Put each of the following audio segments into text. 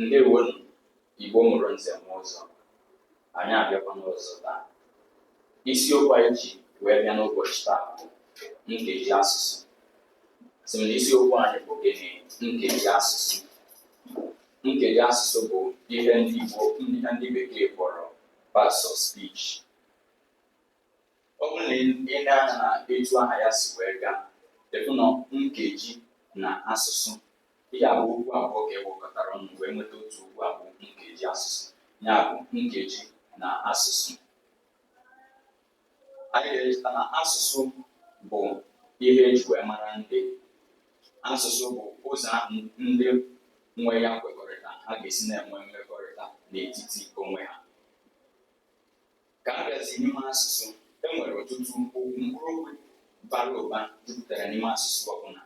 ndewonu Igbo mụrụ nze mụọ ọzọ anyị abịakwana ọzọ taa isiokwu anyị ji wee bịa n'ụbọchị taa bụ nkeji asụsụ sị m na isiokwu anyị bụ gịnị nkeji asụsụ nkeji asụsụ bụ ihe ndị bekee kpọrọ parts of speech Ọ bụrụ na e lee anya na etu aha ya si wee gaa, ị fụ na nkeji na asụsụ, ihe a bụ okwu abụọ ka e wekọtara ọnụ wee nweta otu okwu a bụ nkeji asụsụ. Ya bụ nkeji na asụsụ. Anyị ga-echeta na asụsụ bụ ihe e ji wee mara ndị. Asụsụ bụ ụzọ ahụ ndị nwe ya kwekọrịta ha ga-esi na-enwe mmekọrịta n'etiti onwe ha. Ka a bịazi n'ime asụsụ, e nwere ọtụtụ okwu mkpụrụokwu bara ụba jupụtara n'ime asụsụ ọbụla.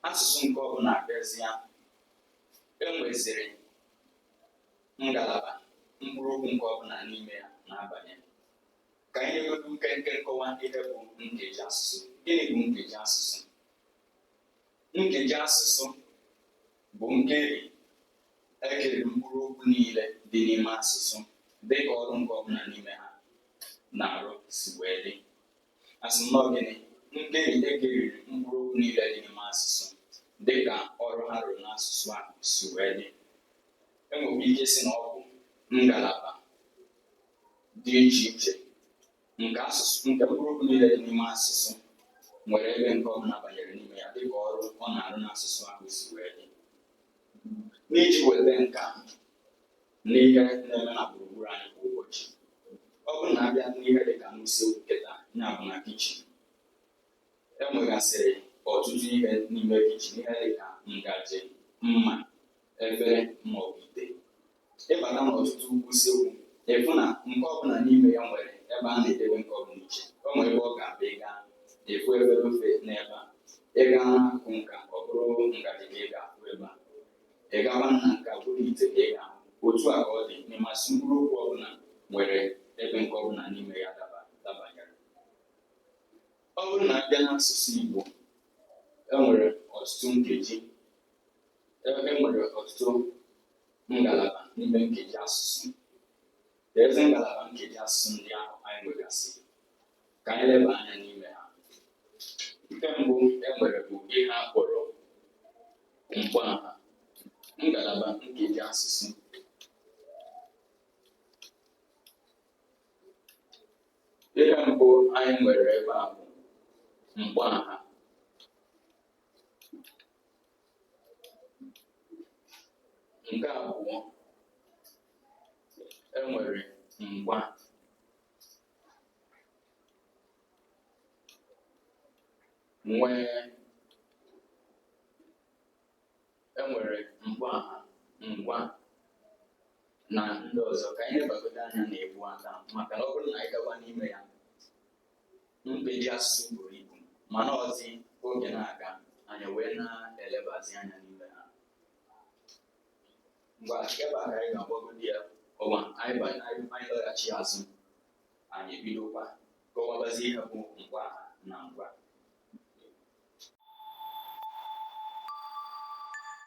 Asụsụ nke ọbụla abịazịa, e nweziri ngalaba mkpụrụokwu nke ọbụla n'ime ya na-abanye. Ka anyị nyegodu nkenke nkọwa ihe bụ nkeji asụsụ. Gịnị bụ nkeji asụsụ? Nkeji asụsụ bụ nkeri e kere mkpụrụ okwu niile dị n'ime asụsụ dị ka ọrụ nke ọbụla n'ime ha na-arụ si wee dị asị m na ọ gịnị nkeri e keriri mkpụrụ okwu niile dị n'ime asụsụ dị ka ọrụ ha rụrụ n'asụsụ a si wee dị e nwere ike sị na ọ bụ ngalaba dị iche iche n'asụsụ nke mkpụrụ okwu niile dị n'ime asụsụ nwere ebe nke ọ bụla banyere n'ime ya dịka ọrụ ọ na-arụ n'asụsụ ahụ si wee dị n'iji weta nka n'ihe na-eme na gburugburu anyị kwa ụbọchị ọ bụrụ na a bịa n'ihe dị ka n'usekwu kịta ya bụ na kichin e nwegasịrị ọtụtụ ihe n'ime kichin ihe dị ka ngaji mma efere maọbụ ite Ị bata n'ọtụtụ usekwu, ị fụ na nke ọbụla n'ime ya nwere ebe a na-edebe nke ọbụla iche. O nwere ebe ọ ga-abụ ị gaa, ị fụ efere ofe n'ebe a. Ị gaa n'akụkụ nka, ọ bụrụ ngaji ka ị ga-afụ ebe a. Ị gawa na nke a, ọ bụrụ ite ka ị ga-ahụ. Otu a ka ọ dị n'ime asụsụ mkpụrụ okwu ọbụla nwere ebe nke ọbụla n'ime ya dabanyere. Ọ bụrụ na a bịa n'asụsụ Igbo, e nwere ọtụtụ nkeji e nwere ọtụtụ ngalaba n'ime nkeji asụsụ keezi ngalaba nkeji asụsụ ndị ahụ anyị nwegasị ka anyị leba anya n'ime ha nke mbụ e nwere bụ ihe a kpọrọ mkpọaha ngalaba nkeji asụsụ ihe mbụ anyị nwere ebe a bụ mkpọaha nke abụọ enwere ngwa nwee enwere mgba ngwa na ndị ọzọ ka anyị lebagodo anya na-ebu aka maka na ọ bụrụ na anyị gawa n'ime ya nkeji asụsụ buru ibu mana ọzi oge na-aga anyị wee na-elebazi anya n'ime ha ngwa ebe a ka anyị ga-agbagodi ya ọwa anyị laghachi azụ anyị ebidokwa kọwabazi ihe bụ ngwa na ngwa